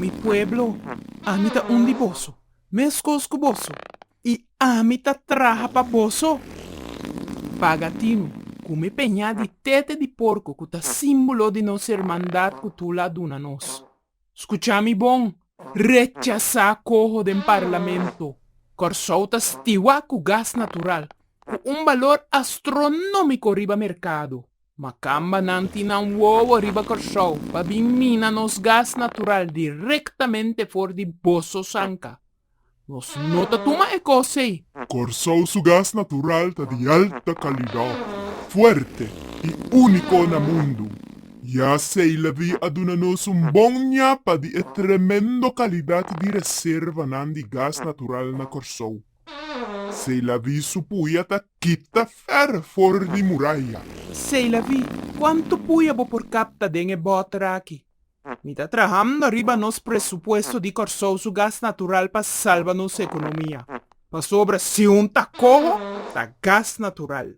Mi pueblo, Ami ta un di boso, meskos ku boso, i Ami ta traha pa boso. Bagatino ku mi peña di tete di porko ku ta símbolo di nos hermandat ku Tula a duna nos. Skucha mi bon, rechasá koho den parlamento. Kòrsou ta stiwá ku gas natural ku un balor astronómiko riba merkado. Makambanan tin nan wowo riba Kòrsou pa bin mina nos gas natural direktamente for di Boso Sanka. Nos no ta tuma e kos ei. Kòrsou su gas natural ta di alta kalidat, fuerte i úniko na mundu. Ya Seilevi a duna nos un bon ñapa di e tremendo kalidat di reservanan di gas natural na Kòrsou. Seilaví su puya ta kita fer for di muraya. Seilaví, Kuantu puya bo por kapta den e bòter aki? Mi ta trahando ariba nos presupuesto di Kòrsou su gas natural pa salba nos ekonomia. Pasobra si un ta koho, ta gas natural.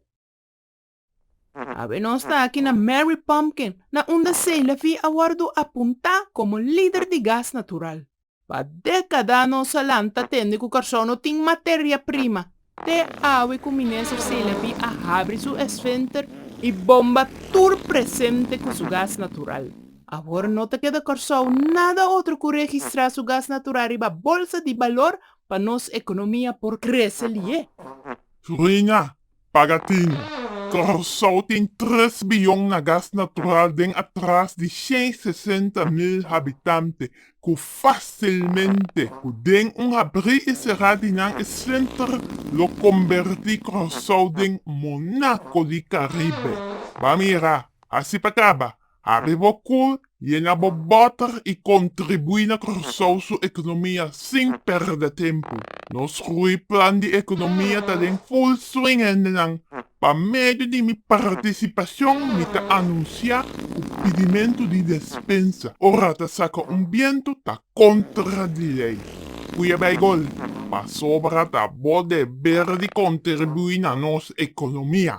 Awe nos ta aki na Mary Pumpkin na unda Seilevee a wordu apunta como lider di gas natural. Pa decada nos a lanta tende cu Carso no tin materia prima, te awe cu Minister Seilevee a habri su esfenter y bomba tur presente cu su gas natural. Awor no ta keda Carso nada otro cu registra su gas natural riba bolsa di balor pa nos economia por crece lie. Su reina Paga tin. Curaçao tin tres biyon na gas natural den atras di shen sesenta mil habitante cu facilmente cu den un habri y cera di nan e slinter lo comberti Curaçao den Monaco di Caribe. Ba mira, hasi pa caba. Ariba e kul, yenga bo bòter i kontribuí na Kòrsou su ekonomia sin pèrdè tempu. Nos grui plan di ekonomia ta den ful swing hendenan. Pa medio di mi partisipashon mi ta anunsiá ku pidimentu di despensa ora ta saka un bientu ta kontra di lei. Ku e bai gol, pasobra ta bo deber di kontribuí na nos ekonomia.